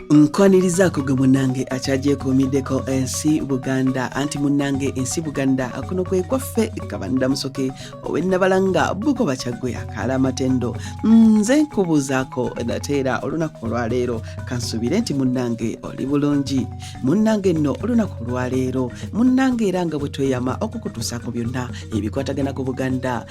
nkwanirizaako gwe munnange akyagyekuumiddeko ensi buganda anti munnange ensi buganda kuno kwe kwaffe kabanda musoke owennabalanga buko bakyaggwe akaala amatendo nze nkubuuzaako nate era olunaku olwaleero kansuubire nti munnange oli bulungi munnange nno olunaku olwaleero munnange era nga bwe tweyama okukutuusaako byonna ebikwatagana ku buganda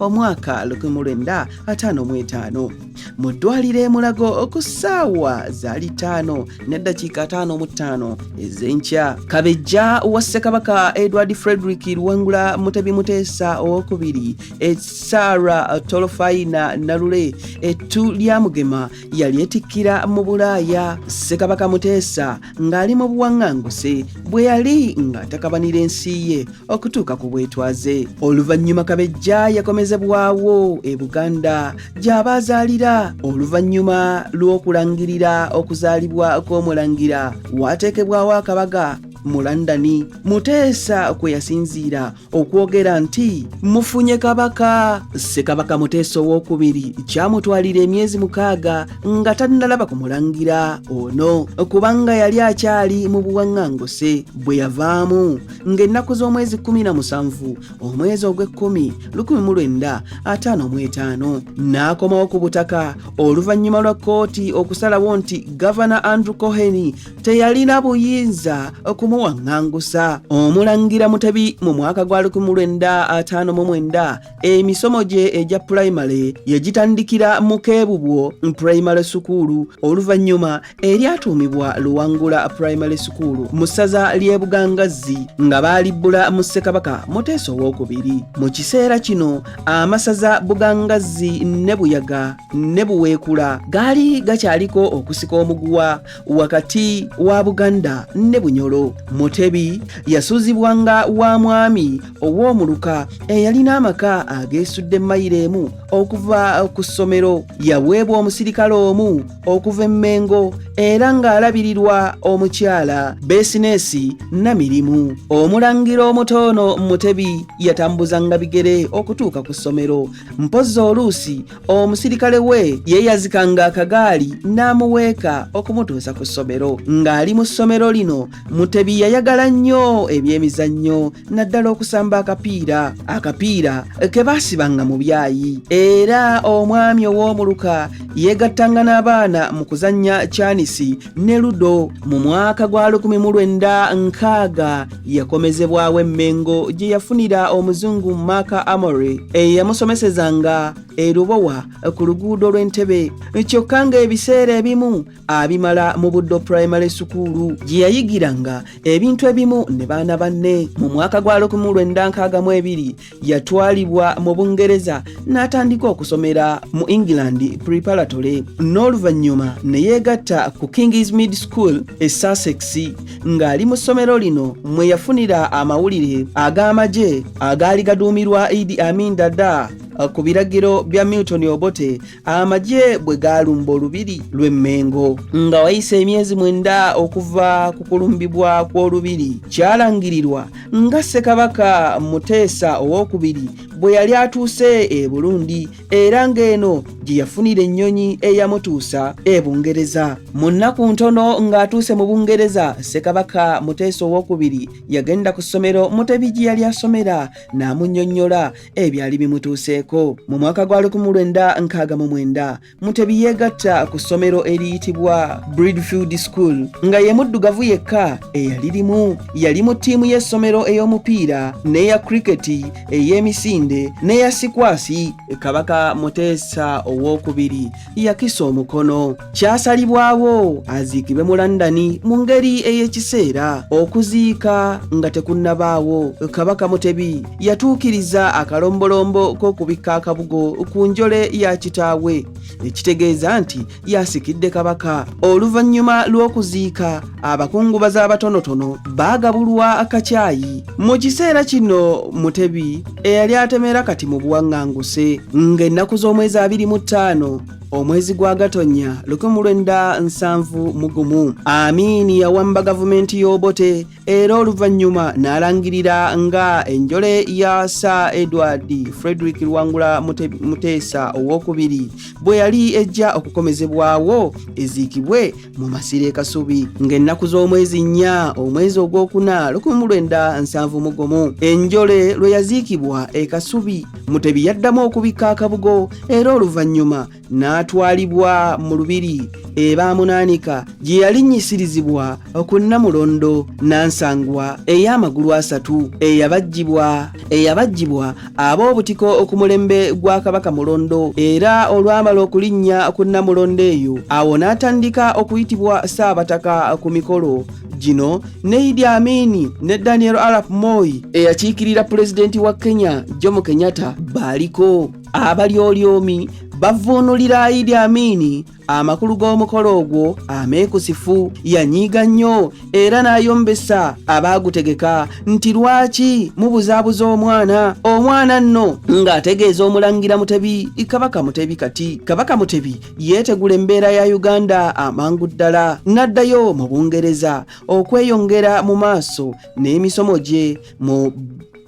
omwaka 1955 mu ddwaliro emulago ku ssaawa zaali ttaano n'eddakiika ataano mu ttaano ez'enkya kabejja wa ssekabaka edward frederick luwangula mutebi muteesa owokubiri esara tolofayina nalule ettu lya mugema yali etikkira mu bulaaya ssekabaka muteesa ng'ali mu buwaŋŋanguse bwe yali ng'atakabanira ensi ye okutuuka ku bwetwaze oluvannyuma kabejja yakomezebwawo e buganda gy'aba azaalira oluvannyuma lw'okulangirira okuzaalibwa kw'omulangira waateekebwawo akabaga mu londoni muteesa kwe yasinziira okwogera nti mufunye kabaka ssekabaka muteesa owokubiri kyamutwalira emyezi mukaaga nga tannalaba ku mulangira ono kubanga yali akyali mu buwaŋŋanguse bwe yavaamu ng'ennaku z'omwezi 17 omwezi ogw'ekkumi 1 ataano mu etaano n'akomawo ku butaka oluvannyuma lwa kkooti okusalawo nti gavana andrew coheny teyalina buyinza okumuwaŋŋangusa omulangira mutebi mu mwaka gwa 1959 emisomo gye egya pulayimale yegitandikira mu keebubwo pulayimale sukuulu oluvannyuma eryatuumibwa luwangula pulayimale sukuulu mu ssaza ly'e bugangazzi nga baalibbula mu ssekabaka muteesa owokubiri mu kiseera kino amasaza bugangazzi ne buyaga ne buweekula gaali gakyaliko okusika omuguwa wakati wa buganda ne bunyolo mutebi yasuuzibwa nga wa mwami ow'omuluka eyalina amaka ageesudde mayiro emu okuva ku ssomero yaweebwa omusirikale omu okuva emmengo era ng'alabirirwa omukyala besineesi na mirimu omulangira omutoono mutebi yatambuzanga bigere okutuuka ku ssomero mpozzi oluusi omusirikale we yeeyazikanga akagaali n'amuweeka okumutuusa ku ssomero ng'ali mu ssomero lino mutebi yayagala nnyo ebyemizannyo naddala okusamba akapiira akapiira ke baasibanga mu byayi era omwami ow'omuluka yeegattanga n'abaana mu kuzannya kyanisi ne ludo mu mwaka gwa 19 nkaaga yakomezebwawo e Mengo gye yafunira omuzungu Mark Amory eyamusomesezanga e Lubowa ku luguudo lw'Entebe kyokka ng'ebiseera ebimu abimala mu Buddo Primary Sukuulu gye yayigiranga ebintu ebimu ne baana banne mu mwaka gwa 1962 yatwalibwa mu bungereza n'atandika okusomera mu england preparatory n'oluvannyuma ne yeegatta ku kings mid school e sussex ng'ali mu ssomero lino mwe yafunira amawulire ag'amagye agaali gaduumirwa idi amin dada ku biragiro bya milton obote amagye bwe gaalumba olubiri lw'e Mmengo. Nga wayise emyezi mwenda okuva ku kulumbibwa kw'olubiri, kyalangirirwa nga Ssekabaka Muteesa ow'okubiri bwe yali atuuse e Burundi era ng'eno gye yafunira ennyonyi eyamutuusa e Bungereza. Mu nnaku ntono ng'atuuse mu Bungereza, Ssekabaka Muteesa ow'okubiri yagenda ku ssomero Mutebi gye yali asomera n'amunnyonnyola ebyali bimutuuseeko mu mwaka gwa 1969 mutebi yeegatta ku ssomero eriyitibwa bridfield school nga ye muddugavu yekka eyalirimu yali mu ttiimu y'essomero ey'omupiira n'eya kriketi ey'emisinde n'eya sikwasi kabaka muteesa ow'okubiri yakisa omukono kyasalibwawo aziikibwe mu landani mu ngeri ey'ekiseera okuziika nga tekunnabaawo kabaka mutebi yatuukiriza akalombolombo k'okubikka akabugo ku njole ya kitaawe ekitegeeza nti yasikidde kabaka oluvannyuma lw'okuziika abakungubazi abatonotono baagabulwa akakyayi mu kiseera kino mutebi eyali atemera kati mu buwaŋŋanguse ng'ennaku z'omwezi abiri mu ttaano omwezi gwa gatonnya lukumu lwenda nsanvu mu gumu amiini yawamba gavumenti y'obote era oluvannyuma n'alangirira nga enjole ya sa edward frederick lwangula muteesa ow'okubiri bwe yali ejja okukomezebwawo eziikibwe mu masiro e kasubi ng'ennaku z'omwezi nnya omwezi ogwokuna 1971 enjole lwe yaziikibwa e kasubi mutebi yaddamu okubikka akabugo era oluvannyuma n'atwalibwa mu lubiri ebaamunaanika gye yalinnyisirizibwa ku nnamulondo nansangwa ey'amagulu asatu eyabajjibwa eyabajjibwa ab'obutiko ku mulembe gwa kabaka mulondo era olwamala okulinnya ku nnamulondo eyo awo n'atandika okuyitibwa ssaabataka ku mikolo gino ne idi amini ne daniel arap moi eyakiikirira pulezidenti wa kenya jomo kenyatta baaliko abalyolyomi bavuunulira idi amini amakulu g'omukolo ogwo ameekusifu yanyiiga nnyo era n'ayombesa abaagutegeka nti lwaki mubuzaabuza omwana omwana nno ng'ategeeza omulangira mutebi kabaka mutebi kati kabaka mutebi yeetegula embeera ya uganda amangu ddala n'addayo mu bungereza okweyongera mu maaso n'emisomo gye mu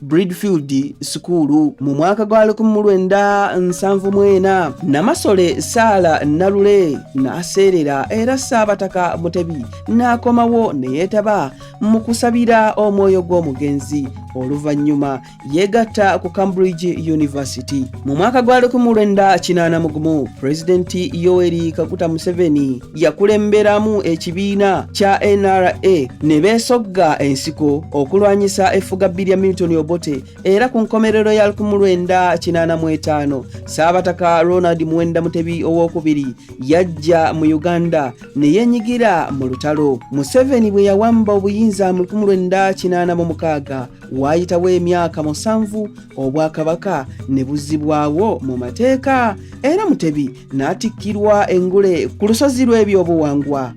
Bridfield Sukulu mu mwaka gwa 1974 Namasole Saala Nalule n'aseerera era Ssaabataka Mutebi n'akomawo ne yeetaba mu kusabira omwoyo gw'omugenzi oluvannyuma yeegatta ku Cambridge University mu mwaka gwa 1981 Pulezidenti Yoweri Kaguta Museveni yakulemberamu ekibiina kya nra ne beesogga ensiko okulwanyisa effugabbi lya milton obote era ku nkomerero ya 1985 saabataka ronald muwenda mutebi owokubiri yajja mu uganda ne yenyigira mu lutalo museveni bwe yawamba obuyinza mu 1986 waayitawo emyaka musanvu obwakabaka ne buzibwawo mu mateeka era mutebi n'atikkirwa engule ku lusozi lw'ebyobuwangwa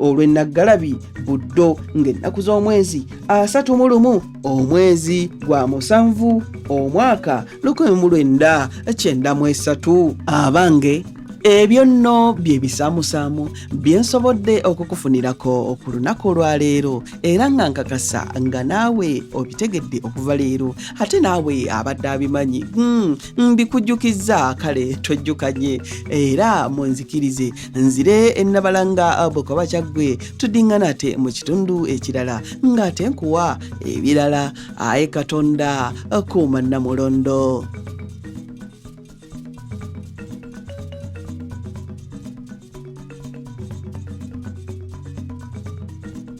olw'e Naggalabi Buddo ng'ennaku z'omwezi asatu mu lumu omwezi gwa musanvu omwaka lukumi mu lwenda kyenda mu esatu abange ebyo nno bye bisaamusaamu bye nsobodde okukufunirako ku lunaku olwaleero era nga nkakasa nga naawe obitegedde okuva leero ate naawe abadde abimanyi hmm, mbikujjukizza kale twejjukanye era munzikirize nzire ennabalanga abuka bakyaggwe tudingana ate mu kitundu ekirala ng'ate nkuwa ebirala aye katonda kuuma namulondo